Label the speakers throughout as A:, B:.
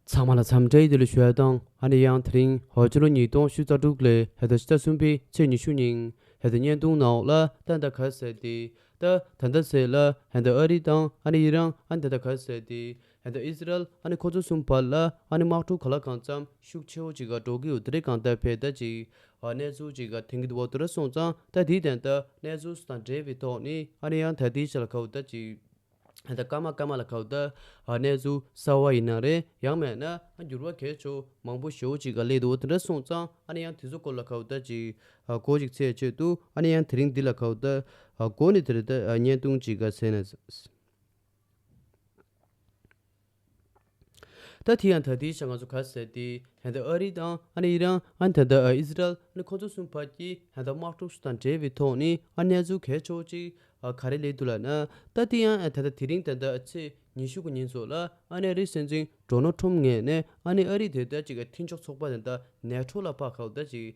A: ཚང་མ་ལ་འཚམས་འདྲིའི་བདེ་ལེགས་ཞུ་ཡ་དང་ཨ་ནེ་ཡང་དེ་རིང་ཧོ་ཅོ་ལོ་ཉིས་སྟོང་བཅུ་རྩ་དྲུག་ལོའི་ཧེ་ད་ཕྱི་ཟླ་གསུམ་པའི་ཚེས་ཉི་ཤུ་ཉིན་ཧེ་ད་བརྙན་ཐུང་ནང་ལ་ཏན་ཏཱ་གྷལ་ཟེར་ཏེ་ཏཱ་ད་ཟེར་ལ་ཧེ་ད་ཨ་རི་དང་ཨ་ནེ་ཡི་རང་ཨ་ནེ་ཏན་ཏཱ་གྷལ་ཟེར་ཏེ་ཧེ་ད་ཨིས་ར་ཨེལ་ཨ་ནེ་ཁོ་ཚོ་གསུམ་བར་ལ་ཨ་ནེ་དམག་འཁྲུག་ག་ལ་གང་འཚམས་ཤུགས་ཆེ་བོ་ཅིག་ག་འགྲོ་གི་ཡོད་དེ་རིགས་གང་ལྟར་བེ་ད་ཅིག་ག་གནས་ཚུལ་ཅིག་ག་དེང་གི་འོག་ཏུ་ར་སོང་ཙང་ད་དེའི་ཏན་ཏཱ་གནས་ཚུལ་སུ་དང་འབྲེལ་བའི་ཐོག་ནས་ཨ་ནེ་ཡང་ད་དེའི་ཆ་ལ་ག་བུ་ད་ཅིག། ད་སྐར་མ་སྐར་མ་ལ་ཁག་ད་གནས་ཚུལ་གསལ་བ་ཡིན་ན་རེད་ཡང་མེད་ན་འགྱུར་བ་གས་ཆོག་མང་པོ་ཞོག་ཅིག་ག་ལེ་འདུག་དེ་འདྲ་སོང་ཙང་ཨ་ནི་ཡང་དེ་ཚོ་སྐོར་ལ་ཁག་ད་ཅིག་གོ་ཅིག་ཚེས་ཆོད་འདུག་ཨ་ནི་ཡང་དེ་རིང་འདི་ལ་ཁག་ད་གོ་ནི་དེ་རེད་ད་བརྙན་ཐུང་ཅིག་ག་ཟེར་ན། ད་དེ་ཡང་ད་ལྟའི་ཆར་ང་ཚོ་ག་ཟེར་ཏེ་ཧན་ད་ཨ་རི་དང་ཨ་ནི་ཨི་རན་ཨ་ནི་ད་ལྟ་ཨི་ཟི་རལ་ཨ་ནི་ཁོ་ཚོ་གསུམ་བར་གྱི་ཧན་ད་དམག་འཁྲུག་སོགས་དང་འབྲེལ་བའི་ཐོག་ནས་ཨ་གནས་ཚུལ་གས་ཆོག་ཅིག་ག་རེ་ལས་འདུག་ལགས་ན་ད་དེ་ཡང་ད་ལྟ་དེ་རིང་ད་ལྟ་ཚེས་ཉི་ཤུ་དགུ་ཉིན་སོགས་ལ་ཨ་ནི་ཨ་རི་སྲིད་འཛིན་འགྲོ་ནོ་ཁྲོམ་ངས་ནས་ཨ་ནི་ཨ་རི་དེ་ལྟར་ཅིག་ག་མཐིང་ཆོག་ཚོགས་པ་དེ་ད་ནས་འཕྲོ་ལ་ཕག་ཁ་བ་ད་ཅིག་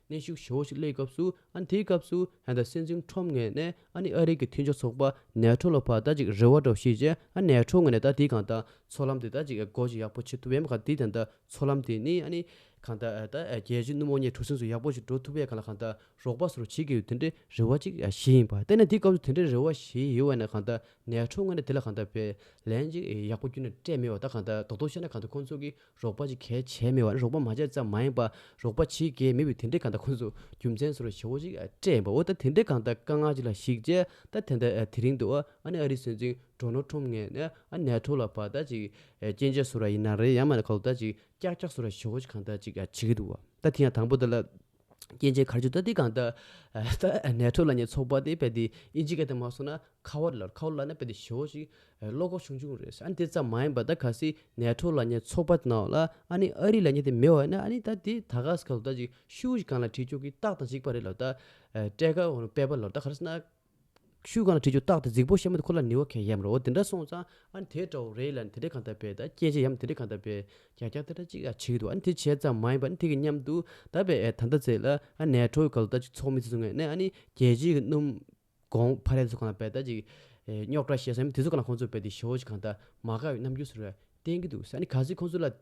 A: གནས་ཤུགས་ཆེན་པོ་ཞིག་སླེབས་སྐབས་སུ་ཨ་ནི་དེའི་སྐབས་སུ་ཧན་ཏཱ་སྲིད་འཛིན་ཁྲོམ་ངོས་ནས་ཨ་ནི་ཨ་རིག་གི་མཐུན་ཕྱོགས་ཚོགས་པ་ནེ་ཐྲོ་ལ་བར་ད་ཅིག་རེ་བ་འདྲ་བོ་ཞིག་བྱས་ཨ་ནེ་ཐྲོ་ངོས་ནས་ད་དེའི་གང་ལྟར་ཚོགས་ལམ་དེ་ད་ཅིག་སྒོ་འབྱེད་ཡག་པོ་བྱེད་ཐུབ་བས་གང་དེའི་དོན་དུ་ཚོགས་ལམ་དེ་ནི་ཨ་ནི་གང་ལྟར་ད་རྒྱལ་སྤྱིའི་སྣུམ་འོ་ཉེ་གྲུ་གཟིངས་སུ་ཡག་པོ་ཞིག་འགྲོ་ཐུབ་བས་གང་ལ་གང་ལྟར་རོགས་པ་སུ་རུ་བྱེད་དགོས་པའི་དེ་འདྲའི་རེ་བ་ཅིག་བྱས་ཡིན་པ་བལྟས་ན་དེའི་སྐབས་སུ་དེ་འདྲའི་རེ་བ་བྱས་ཡོད་བས་ན་གང་ལྟར་ནེ་ཐྲོ་ངོས་ནས་དེ་ལ་གང་ལྟར་བས་ལན་ཅིག་ཡག་པོ་བསྐྱུར་ནས་སྤྲད་མེད་བ་ད་གང་ལྟར་དོག་དོག་བྱས་ན་གང་ལྟར་ཁོང་ཚོ་གིས་རོགས་པ་ཅིག་གལ་ཆེ་མེད་པ་ནི་རོགས་པ་མ་བྱས་ཙམ་མ་ཡིན་པར་རོགས་པ་བྱེད་མཁན་མེད་པའི་དེ་འདྲའི་གང་ལྟར་ཁོ་ཚོས་རྒྱུ་མཚན་ཟུར་བ་ཆེ་བོ་ཞིག་སྤྲད་ཡིན་པ་འོ་ད་དེ་འདྲའི་གང་ལྟར་དཀའ་ངལ་ཅིག་ལ་གཞིགས་རྗེས་ད་དེ་འདྲ་དེ་རིང་དུ་ཨ་ནེ་ཨ་རིའི་སྲིད་འཛིན་གྲོ་ནོ་ཁྲོམ་ངས་ནས་ཨ་ནེ་ཨ་ཁྲོ་ལ་བར་ལྟ་ཅིག་སྐྱེན་ཆས་ཟུར་བ་ཡིན་ན་རེད་ཡང་མ་ནི་ཁ་ལོ་ད་ཅིག་ཀྱག་ཀྱག་ཟུར་བ་ཆེ་བོ་ཅིག་གང་ལྟར་ཅིག་བྱེད་ཀྱི་འདུག་བ་ད་དེ་ཡང་དང་པོ་དེ་ལ་སྐྱེ་མཆེད་གར་བྱེད་ལྟ་སྟེ་གང། ནས་ཐོད་ལ་ཉེ་ཚོགས་པ་དེ་དཔེ་དེ་ཨི་འཇིག་ག་དེ་མ་སོང་ན་ཁ་བ་ལ་ཁ་བ་ལ་ན་དཔེ་དེ་ཞོ་ཞིག་བློ་ཁོག་ཆུང་ཆུང་རེད་ཨ་ནི་དེ་ཙམ་མ་ཡིན་པ་ད་ག་སི་ནས་ཐོད་ལ་ཉེ་ཚོགས་པ་ན་ལ་ཨ་ནི་ཨ་རི་ལ་ཉེ་དེ་མི་བ་ན་ཨ་ནི་ད་དེ་ད་ག་ཟི་ག་ཟུ་ད་ཅིག་ཤུ་ཞིག་གང་ལ་བྲིས་ཆོག་གི་རྟགས་དང་གཅིག་པ་རེད་ལོ་ད། དཔྲལ་ཁ་བོ་ནི་དཔེ་པ་ལོ་ད་ག་ར་སི་ན། ཤུལ་གང་ལ་བྲིས་རྒྱུ་བརྟགས་ཏེ་རྫིག་པོ་ཤ་མོ་དེ་ཁོ་ལ་ནི་བ་གན་ཡམ་རོ་དེ་འདྲ་སོང་ཙང་ཨ་ནི་དེའི་དགྲ་བོ་རེད་ལ་ནི་དེ་འདྲས་གང་ལྟར་བས་ད་སྐྱེས་མཆེད་ཡམ་དེ་འདྲས་གང་ལྟར་བས་གྱ་གྱ་ཏ་ཏ་ཅིག་ཨ་བྱེད་ཀྱི་འདུག་ཨ་ནི་དེ་བྱས་ཙང་མ་ཡིན་པ་ཨ་ནི་དེ་གི་མཉམ་དུ་ད་བས་ཨས་ད་འདྲ་བྱས་ལ་ཨ་ནེ་ཁྲོ་བོའི་ག་ལུ་ད་ཅིག་ཚོགས་མི་ཚེ་ཚོ་ངས་ནས་ཨ་ནི་རྒྱལ་སྤྱིའི་གི་སྣུམ། གོང་ཕ་རས་ཚོ་གང་ལ་བས་ད་ཅིག་རྙོག་དྲ་བཤད་ས་ཡམ་དེ་ཚོ་གང་ལ་ཁོང་ཚོ་བས་དེ་ཞོ་ཅིག་གང་ལྟར་མ་ག་བས་རྣམ་འགྱུར་ཟེར་བས་བསྟན་གྱི་འདུག་ཨ་ནི་ག་ཚིག་ཁོང་ཚོ་ལ།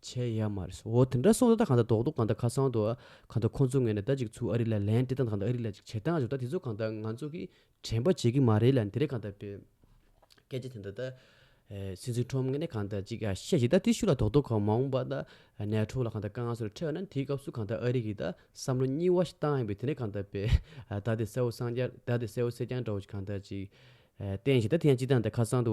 A: བྱས་ཡ་མ་རེད། འོ་དེ་འདྲ་སོང་ད་ད་གང་ད་དོག་དོག་གང་ད་ཁ་སང་དུ་གང་ད་ཁོང་ཚོ་ངས་ནས་ད་ཅིག་ཚུགས་ཨ་རི་ལ་ལན་སྤྲད་སྟངས་དང་གང་ད་ཨ་རི་ལ་ཅིག་བྱེད་སྟངས་བྱུང་ད་དེ་ཚོ་གང་ད་ང་ཚོ་གིས་དྲན་པ་བྱེད་ཀྱི་མ་རེད་ལ་དེ་རེད་གང་ད་པོའི་སྐད་ཆ་དེ་འདྲ་ད། སིན་སི་ཁྲོམ་ངས་ནས་གང་ད་ཅིག་བཤད་བྱེད་ད་ཏི་ཤུ་ལ་དོག་དོག་གང་མང་བ་ད་ནས་ཁྲོ་ལ་གང་ད་དཀའ་ངལ་སོ་རེ་འཕྲད་ན་དེའི་སྐབས་སུ་གང་ད་ཨ་རི་གིས་ད་བསམ་བློ་གཉིས་བ་ཞིག་བཏང་ཡོང་པས་དེ་འདྲ་གང་ད་པོའི་ད་ལྟའི་གསལ་བོ་སངས་རྒྱ་ད་ལྟའི་གསལ་བོ་སེ་རྐྱང་འདྲ་བོ་ཞིག་གང་ད་ཅིག་བསྟན་བྱེད་ད་དེ་ཡང་ཅིག་ད་ནས་ད་ཁ་སང་དུ།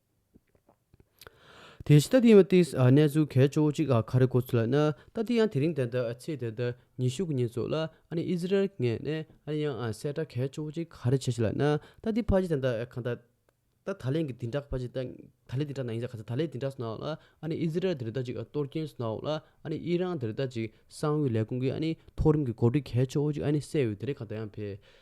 A: དེ་བཞིན་ཏཱ་ཏི་ཡི་མི་ཏིས་གནས་ཚུལ་གལ་ཆེ་བོ་གཅིག་ཁ་རེ་གོ་ཚུལ་ལ་ན་ཏཱ་ཏི་ཡང་དེ་རིང་དེ་འདྲ་ཚེས་དེ་འདྲ་ཉི་ཤུ་གི་ཉིན་ཙུག་ལ་ཨཱ་ནི་ཨི་ཟི་རལ་ངས་ནས་ཨཱ་ནི་ཡང་གསལ་བསྒྲགས་གལ་ཆེ་བོ་གཅིག་ཁ་རེ་བྱེད་ཤེས་ལ་ན་ཏཱ་ཏི་ཕ་ཅི་དེ་འདྲ་གང་ད་ད་ད་ལན་གི་དེ་འདྲ་ཕ་ཅི་ད་ད་ལན་དེ་འདྲ་ན་ཡིན་ཟེར་ག་ཚད་ད་ལན་དེ་འདྲ་སོང་ལ་ཨཱ་ནི་ཨི་ཟི་རལ་དེ་རི་ད་ཅིག་གཏོར་སྐྱོན་སོང་ལ་ཨཱ་ནི་ཨི་རང་དེ་རི་ད་ཅིག་གསང་བའི་ལས་ཁུངས་ཀྱི་ཨཱ་ནི་མཐོ་རིམ་གྱི་གོ་སྒྲིག་གལ་ཆེ་བོ་གཅིག་ཨཱ་ནི་གསལ་ཡོད་དེ་རིང་གང་ད་ཡང་ཕེབས་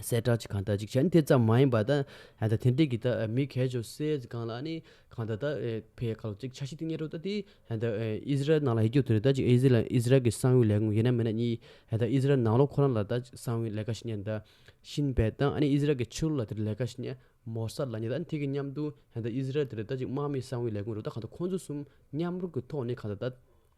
A: གསལ་བསྒྲགས་ཀྱི་གང་ལྟར་གཅིག་ཆ་ནི་དེ་ཙམ་མ་ཡིན་པ་དང། ད་ཐེངས་དེ་གི་མི་གལ་ཆུ་སེར་གྱི་སྒང་ལ་ནི་གང་ལྟར་ད་ཕའི་ཁ་ལོ་གཅིག་ཆ་ཤིག་ཏུ་རྙེད་འགྲོ་ད་དེ་ད་ཨི་ཟི་རལ་ནང་ལ་ཡིད་སྐྱོ་དུ་རེད་ད་ཅིག་ཨི་ཟི་ཨི་ཟི་རལ་གྱི་གསང་བའི་ལས་ཁུངས་ཡིན་ན་མིན་ན་གཉིས་ད་ཨི་ཟི་རལ་ནང་ལོགས་ཁོ་རང་ལ་ད་གསང་བའི་ལས་ཀ་ཞིག་རྙེད་ད་ཤིན་བལ་དང་ཨ་ནི་ཨི་ཟི་རལ་གྱི་ཕྱི་ལོགས་ལ་དེ་རུ་ལས་ཀ་ཞིག་རྙེད་མོ་གསར་ལ་རྙེད་ད་དེ་གི་མཉམ་དུ་ད་ཨི་ཟི་རལ་དེ་རུ་ད་ཅིག་དམག་མིའི་གསང་བའི་ལས་ཁུངས་རུ་ད་གང་ལྟར་ཁོང་ཚོ་གསུམ་མཉམ་རུབ་ཀྱི་ཐོག་ནས་གང་ལྟར་ད།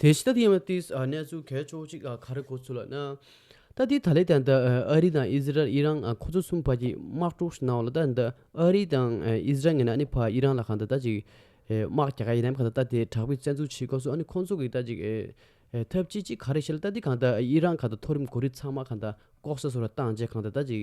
A: དེ་ཕྱི་ད་ལྟའི་གནས་ཚུལ་གལ་ཆོག་ཅིག་ལ་ག་རེ་གོ་ཚུལ་ལ་ན། ད་ལྟའི་ད་ལེ་དང་ད་ཨ་རི་དང་ཨི་ཟི་རལ་ཨི་རང་ཁོ་ཚོ་གསུམ་བར་གྱི་དམག་འཁྲུག་ཞིག་གནང་བ་ལ་ད་ད་ཨ་རི་དང་ཨི་ཟི་རལ་ངེད་ནི་ཕ་ཨི་རང་ལ་གང་ད་ད་ཅིག་དམག་རྒྱག་ག་ཡིན་ནམ་གང་ད་ད་དེ་དྲག་པོའི་བཙན་འཛུལ་བྱེད་དགོས་སོ་ཨ་ནི་ཁོ་ཚོ་གི་ད་ཅིག་ཐབས་ཅི་ཅིག་ག་རེ་བྱེད་ལ་ད་ལྟའི་གང་ད་ཨི་རང་གང་ད་མཐོ་རིམ་གོ་རིགས་ཚང་མ་གང་ད་ལྐོག་ཟ་སོ་ར་བཏང་རྗེས་གང་ད་ད་ཅིག་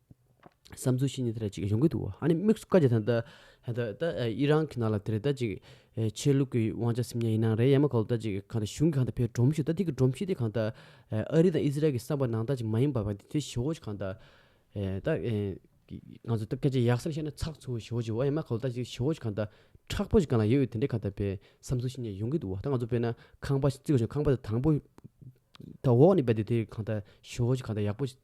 A: བསམ་ཚུལ་ཞིག་ནི་དེ་རེད་ཅིག་ཡོང་གི་འདུག་ཨ་ནི་དམིགས་སུ་བཀར་རྒྱུ་དང། ཨི་རན་གྱི་ནང་ལ་དེ་རེད་ད་ཅིག་ཆོས་ལུགས་ཀྱི་དབང་ཆ་སིམ་ཉ་ཡིན་ན་རེད་ཡ་མ་གོ་ལ་ད་ཅིག་གང་ལྟ་གཞུང་གིས་གང་ལྟ་ཕེབས་སྒྲོམ་གཞི་ད་ཐིག་གི་སྒྲོམ་གཞི་དེ་གང་ལྟ། ཨ་རི་དང་ཨི་ཟི་རལ་གྱི་བསམ་པ་ནང་ད་ཅིག་མ་ཡིན་པ་བ་དེ་ཞི་བོ་ཅིག་གང་ལྟ། ད། ང་ཚོ་ད་སྐད་ཆ་ཡག་སར་བཤད་ན་ཚགས་ཚུད་བོ་ཞི་བོ་ཅིག་བ་ཡ་མ་གོ་ལ་ད་ཅིག་ཞི་བོ་ཅིག་གང་ལྟ། ཁྲག་པོ་ཅིག་གང་ལ་ཡོད་ཡོད་དེ་འདྲའི་གང་ལྟ་བའི་བསམ་ཚུལ་ཞིག་ནི་ཡོང་གི་འདུག་ཨ་ད་ང་ཚོ་དཔེར་ན་ཁང་པ་ཞིག་བརྩིགས་པ་བྱུང་ཁང་པ་དེ་དང་པོ། ད་འོག་ནས་བལྟས་དེ་དེ་གང་ལྟ་ཞི་བོ་ཅིག་གང་ལྟ་ཡག་པོ་ཅིག།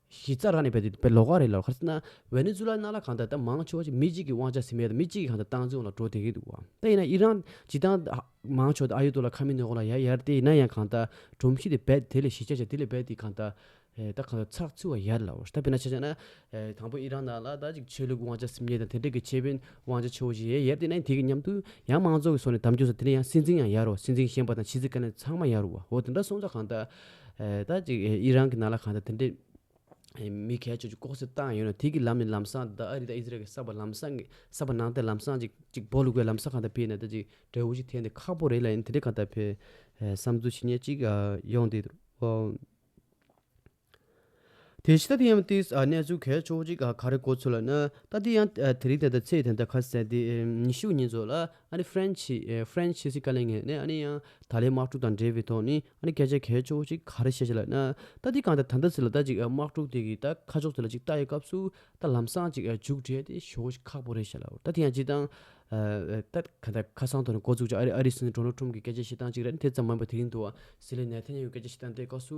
A: གཞི་རྩ་རག་ནས་བལྟས་ཏེ་ལོག་ཀ་རེད་ལོག་ཀ་རེད། ཝེ་ནེ་ཛུ་ལཱ་ནཱ་ལ་གང་ལྟར་ད་མང་ཆེ་བ་ཞིག་མི་གཅིག་གི་དབང་ཆ་ཟིན་མེད་དང་མི་གཅིག་གི་གང་ལྟར་སྟངས་འཛིན་འོག་ལ་འགྲོ་དེ་གི་འདུག་བ། ད་ཡིན་ན་ཨི་རན་སྤྱི་བཏང་མང་ཆོག་དེ་ཨ་ཡོད་དུ་ལ་ཁ་མི་ནོན་གོ་ལ་ཡ་ཡར་དེ་ཡིན་ན་ཡང་གང་ལྟར་སྒྲོམ་གཞི་དེ་རྦད་དེ་ལས་གཞི་ཆ་ཆ་དེ་ལས་རྦད་དེ་གང་ལྟར་ད་གང་ལྟར་ཚགས་ཚུད་བ་ཡར་ལ་བ། ད་བེ་ན་ཆ་ཆ་ན་དང་པོ་ཨི་རན་ནཱ་ལ་ད་ཅིག་ཆོས་ལུགས་དབང་ཆ་ཟིན་མེད་དང་དེ་འབྲེལ་གྱི་ཆེད་དཔོན་དབང་ཆ་ཆེ་བོ་ཞིག་ཡ་ཡར་དེ་ཡིན་ན་དེ་གི་མཉམ་དུ་ཡང་མང་ཚོགས་ཀྱི་སོ་ནས་དམ་བཅུག་ས་དེ་ནས་ཡང་སྲིད་འཛིན་ཡང་ཡར་བ་སྲིད་འཛིན་བཞེངས་པ་དང་ཕྱི་སྲིད་ཀ་ནས་ཚང་མ་ཡར་བ། འོ་དེ་འདྲ་སོང་ཙང་གང་ལྟར། ད་ཅིག་ཨི་རན་གྱི་ནང་ལ་གང་ལྟར་དེ་འདྲའི་མི་གལ་ཆེ་ཆུ་ལྐོག་གསོད་བཏང་ཡོད་ན་དེ་གི་ལམ་ནས་ལམ་སང་ད་ཨ་རི་དང་ཨི་ཟི་རལ་གྱི་ས་བར་ལམ་སང་གི་ས་བར་ནང་ལྟར་ལམ་སང་ཅིག་ཅིག་སྦོ་ལུག་པའི་ལམ་ས་གང་ལྟར་འཕེལ་ནས་ད་ཅིག་འབྲས་བུ་ཞིག་འཐེན་ཏེ་ཁག་པོ་རེད་ལ་ཡིན་དེ་འདྲའི་གང་ལྟར་འཕེལ་བསམ་ཚུལ་ཇི་སྙེད་ཅིག་ཡོང་སྟེ། དེ་ཕྱི་ད་ལྟའི་ཡང་ཏིས་གནས་ཚུལ་གལ་ཆོག་གཅིག་ག་རེ་གོ་ཚོད་ལ་ན་ད་ལྟའི་ཡང་དེ་རིང་ད་ལྟ་ཚེས་དེ་འདྲ་ཁ་གསལ་ཏེ་ཉི་ཤུ་ཉིན་ཚོ་ལ་ཨ་ནི་ཧྥེན་ཆི French ཕྱི་སྲིད་བཀའ་ལན་ངེས་ནས་ཨ་ནི་ཡང་ད་ལའི་དམག་འཁྲུག་དང་འབྲེལ་བའི་ཐོག་ནས་ཨ་ནི་སྐད་ཆ་གལ་ཆོག་གཅིག་ག་རེ་བཤད་ཅི་ལ་ན་ད་ལྟའི་གང་ད་ད་ད་ཚེ་ལ་ད་ཅིག་དམག་འཁྲུག་དེ་གི་ད་ཁ་ཕྱོགས་དེ་ལ་ཅིག་ལྟ་ཡི་སྐབས་སུ་ད་ལམ་སང་ཅིག་མཇུག་བསྒྲིལ་ཏེ་ཞོག་ཅིག་ཁག་པོ་རེད་བཤད་ལ་ད་ལྟའི་ཡང་ཅིག་ད་ག་ད་ཁ་སང་ཐོག་ནས་གོ་ཚུགས་ཅིག་ཨ་རི་སི་ནི་གྲོ་ནོ་ཁྲུམ་གི་སྐད་ཆ་བཤད་སྟངས་ཅིག་རེད་དེ་ཙམ་མ་ཡིན་པ་དེ་རིང་དུ་བ་སི་ལའི་ནེ་ཐན་ཡ་ཧུའི་སྐད་ཆ་བཤད་སྟངས་དེ་སྐབས་སུ་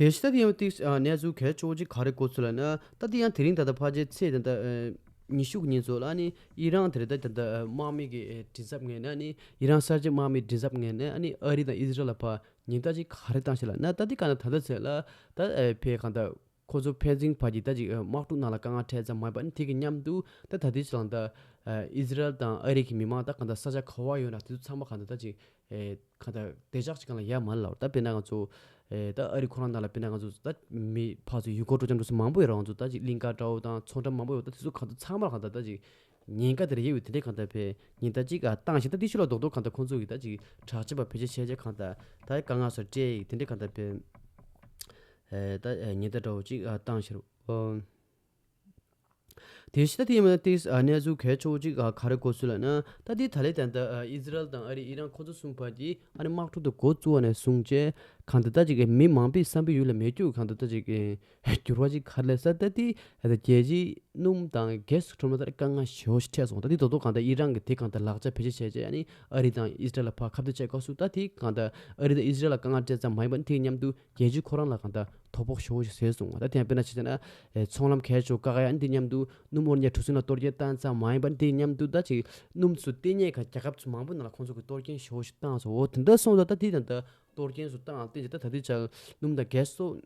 A: དེ་བཞིན་ཏཱ་ལའི་ཡང་བཀྲིས་གནས་ཚུལ་གལ་ཆེ་བོ་གཅིག་ག་རེ་གོ་ཚུལ་ལ་ན། ཏཱ་ལའི་ཡང་དེ་རིང་ད་ལྟ་ཕ་རྗེས་ཚེས་དེ་ལྟར་ཉི་ཤུ་ཉིན་ཚོ་ལ་ནི་ཨི་རན་དེ་ལྟར་དེ་ལྟར་དམག་མི་གི་དྲི་ཟབ་ངན་ནི་ཨི་རན་གསར་བརྗེ་དམག་མི་དྲི་ཟབ་ངན་ནི་ཨ་རི་དང་ཨི་ཟི་རལ་ལ་བར་ཉེན་བརྡ་གཅིག་ག་རེ་བཏང་ཞེ་ལ་ན་ཏཱ་ལའི་ག་ན་ད་ལྟ་ཚེས་ལ་ད་ཕེབས་གང་ལྟར། ཁོ་ཚོ་བྷེལ་ཇིང་བར་གྱི་ཟླ་གཅིག་དམག་འཁྲུག་ནང་ལ་དཀའ་ངལ་འཕྲད་ཙམ་མ་ཡིན་པ་ནི་དེ་གི་མཉམ་དུ་ད་ལྟ་དུས་ཚོད་ལ་ད། ཨིས་རལ་དང་ཨ་རིག་གི་མི་དམངས་ད་ག་ད་ས་ཆ་ག་བ་ཡོད་ན་དེ་ཚོ་ཚང་མ་ག་ད་ད་ཅིག་ག་ད་བདེ་འཇགས་ཅིག་ག་ལ་ཡ་མ་ལ་ད་བེ་ན་ང་ཚོ་ད་ཨ་རིག་ཁོ་རང་ད་ལ་བེ་ན་ང་ཚོ་ད་མི་ཕག་ཚོ་ཡུལ་སྐོར་སྤྲོ་འཆམ་འགྲོ་ས་མང་པོ་ཡོད་ར་ང་ཚོ་ད་ཅིག་གླིང་ཁ་ཏྲའོ་དང་མཚོ་འགྲམ་མང་པོ་ཡོད་ད་དེ་ཚོ་ག་ད་ཚང་མ་ག་ད་ད་ཅིག་ཉིན་ག་དེར་ཡེ་ཡོད་དེ་འདྲས་ག་ད་བེ་ཉིན་ད་ཅིག་ག་བཏང་ཞིང་ད་ཏི་ཤུ་ལ་རྡོག་རྡོག་ག་ད་ཁོ་ཚོ་གི་ད་ཅིག་དྲག་ཆས་པ་བེ་ཆེ་ཆེ་ཆེ་ག་ད་ད་དཀའ་ངལ་སོ་སྤྲེལ་ཡིག་དེ་འདྲས་ག་ད་བེ། ཉི་ཟླ་དྲོ་བོ་གཅིག་བཏང་ཕྱིར། དེའི་ཕྱི་ད་ལྟའི་གནས་ཚུལ་གལ་ཆེ་བོ་གཅིག་ག་རེ་གོ་ཚུལ་ལ་ན་ད་ལྟའི་ད་ལེ་དང་ཨི་ཟི་རལ་དང་ཨ་རི་ཨི་རན་ཁོ་ཚོ་གསུམ་བར་གྱི་ཨ་རི་དམག་འཁྲུག་དུ་གོ་བཙུགས་བ་ནས་བཟུང་རྗེས་གང་འདི་ལྟ་ཅིག་གིས་མི་མང་པོའི་བསམ་པའི་ཡུལ་ལ་མེ་སྐྱུག་གང་འདི་ལྟ་ཅིག་གིས་གྱུར་བ་གཅིག་ག་ལེ་ས་ད་ལྟའི་རྒྱལ་སྤྱིའི་སྣུམ་དང་གེ་སི་ཁྲོམ་ར་ད་རེ་དཀའ་ངལ་ཞེ་བོ་ཞིག་འཕྲད་སོང་ད་ལྟའི་དོ་དོ་གང་ད་ཨི་རན་གྱི་དེ་གང་ད་ལག་ཆ་བེད་སྤྱད་བྱས་རྗེས་ཨ་རི་དང་ཨི་ཟི་རལ་ལ་བར་ཁ་བརྡ་བྱེད་དགོས་སུ་ད་དེ་གང་ད་ཨ་རི་དང་ཨི་ཟི་རལ་ལ་དཀའ་ངལ་སྤྲད་ཙམ་མ་ཡིན་པར་དེའི་མཉམ་དུ་རྒྱལ་སྤྱི་ཁོ་རང་ལ་གང་ལྟར་དོ་ཕོག་ཤོར་ཞིག་བཟོས་སོང་བ་ད་ཐེངས་དཔེར་ན་བྱས་ན། ཚོང་ལམ་གས་ཆོག་ཀ་ཡ་འདི་སྙམ་དུ་སྣུམ་མོར་ཉལ་གྲུ་གཟིངས་ལ་གཏོར་སྐྱེལ་བཏང་ཙམ་མ་ཡིན་པར་འདི་སྙམ་དུ་ད་ཅིག་སྣུམ་ཚོ་ལྟེ་སྙེད་ཁ་རྒྱ་ཁབ་ཚོ་མང་པོ་ནང་ལ་ཁོང་ཚོ་གི་གཏོར་སྐྱེལ་ཤོར་ཞིག་བཏང་སོང་འོ་དེ་འདྲ་སོང་ཙང་ད་དེ་དང་ད་གཏོར་སྐྱེལ་སོ་བཏང་བསྟན་ཅིག་ད་ད་དེ་ཅག་སྣུམ་དང་གས་སོགས་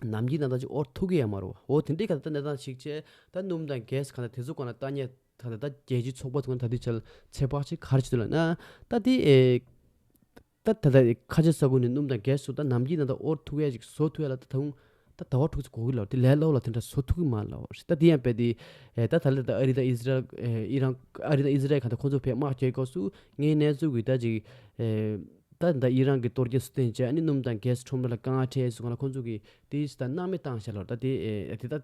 A: ནམ་གྱི་ནང་ད་ཅིག་ཨོར་ཐུག་གི་ཡ་མ་རོ་འོ་དེ་འདྲའི་ག་ད་ད་ནས་ད་ཅིག་བྱས་ད་སྣུམ་དང་གས་གང་ལྟར་དེ་ཚོ་གང་ལ་བཏང་ཉལ་ད་ད་ད་རྒྱལ་སྤྱི་ཚོགས་པ་ཚོ་གང་ད་དེ་ཅག་ཚེ་དཔག་ཅིག་གར་བྱེད་དུ་ལ་ན་ད་དེ། ད་ད་ད་ཁ་ཆེ་ས་ཁུལ་ནས་སྣུམ་དང་གས་སུ་ད་ནམ་གྱི་ནང་ད་ཨོར་ཐུག་ཡས་ཅིག་ཟོ་ཐུག་ཡས་ལ་ད་ད་ཧུང་ད་ད་ཧོར་ཐུག་ཚེ་གོ་གི་ལ་དེ་ལས་ལོག་ལ་དེ་འདྲ་ཟོ་ཐུག་གི་མ་ལ་ཧོར་ཞེས་ད་དེ་ཡང་བས་དེ་ད་ད་ལ་ད་ཨ་རི་དང་ཨི་ཟི་རལ་ཨི་རང་ཨ་རི་དང་ཨི་ཟི་རལ་གང་ད་ཁོང་ཚོ་བས་དམག་བསྐྱེལ་སྐབས་སུ་ངའི་གནས་ཚུལ་གྱི་ད་ཅིག་ད་ད་ཨི་རང་གི་གཏོར་སྐྱེལ་སུ་བསྟན་རྗེས་ཨ་ནི་སྣུམ་དང་གས་སུ་ཁྲོམ་ར་ལ་དཀའ་ངལ་འཕྲད་ཡས་སུ་གང་ལ་ཁོང་ཚོ་གིས་དེ་ཡས་སུ་ད་མནའ་མེད་བཏང་ཞེས་ལ་ད་དེ་ད་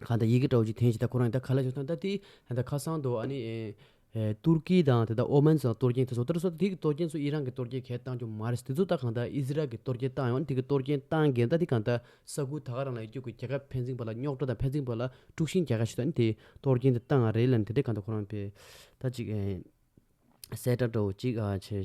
A: གང་དང་ཡི་གེ་དྲག་ཅིང་ཐན་ཞིང་དང་ཁོ་རང་ཉིད་དང་ཁ་ལ་ཆགས་སོང་ད་དེ་ད་ནི་ཁ་སང་དུ་ཨ་ནི་ཏུར་ཀི་དང་དེ་དག་ཨོ་མན་སོགས་དང་གཏོར་སྐྱེན་དེ་སོགས་ལྟར་སོ་ད་དེ་གི་གཏོར་སྐྱེན་ཚོ་ཨི་རན་གི་གཏོར་སྐྱེན་གས་བཏང་རྒྱུ་མ་རེད་དེ་ཚོ་ད་གང་ད་ཨིས་རལ་གི་གཏོར་སྐྱེན་བཏང་ཡོང་དེ་གི་གཏོར་སྐྱེན་བཏང་གས་ད་དེ་གང་ད་ས་ཁུལ་ད་ག་རང་ལ་ཡི་རྒྱུ་གི་རྒྱལ་ཁབ་ཕན་ཚིན་པ་ལ་རྙོག་དྲ་དང་ཕན་ཚིན་པ་ལ་དཀྲུགས་ཤིང་རྒྱག་ག་ཞིག་ད་ནི་དེ་གཏོར་སྐྱེན་དེ་བཏང་རེད་ལ་ནི་དེ་དེ་གང་ད་ཁོ་རང་པས་ད་གཅིག་གསལ་བསྒྲགས་དྲོ་ཅིག་ཨ་ཆེ།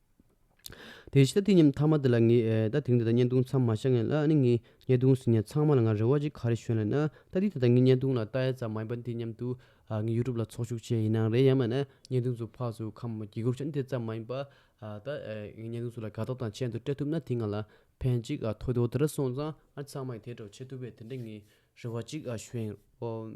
A: དེ་ཕྱིར་དེ་ཉིན་ཐ་མ་དེ་ལ་ངས་ད་ཐེངས་དེ་དང་བརྙན་ཐུང་མཚམས་མ་བཞག་ངེས་ལ་ནི་ངའི་བརྙན་ཐུང་ཟིན་ཡང་ཚང་མ་ལ་ང་རེ་བ་ཅིག་ག་རེ་ཞུ་ན་ན་ད་དེ་ད་ལྟ་ངའི་བརྙན་ཐུང་ལ་བལྟ་ཡ་ཙམ་མ་ཡིན་པར་དེ་སྙམ་དུ་ངས YouTube ལ་ཚོགས་ཞུགས་བྱས་ཡིན་ནའང་རེད་ཡང་མིན་ན་བརྙན་ཐུང་ཚོ་ཕག་སུ་ཁམས་དགྱེས་རྒུར་བྱོན་དེ་ཙམ་མ་ཡིན་པར་ད་ངས་བརྙན་ཐུང་ཚོ་ལ་དགའ་ཐོག་དང་ཆེན་དུ་སྤྲད་ཐུབ་ན་དེ་ང་ལ་ཕན་ཅིག་ཐོགས་དེ་འོ་དེ་འདྲ་སོང་ཙང་ཨ་ཚང་མ་ཡིས་དེ་འདྲ་བྱེད་ཐུབ་པས་དེ་འདྲ་ངས་རེ་བ་ཅིག་ཞུ་ཨེ་རོགས།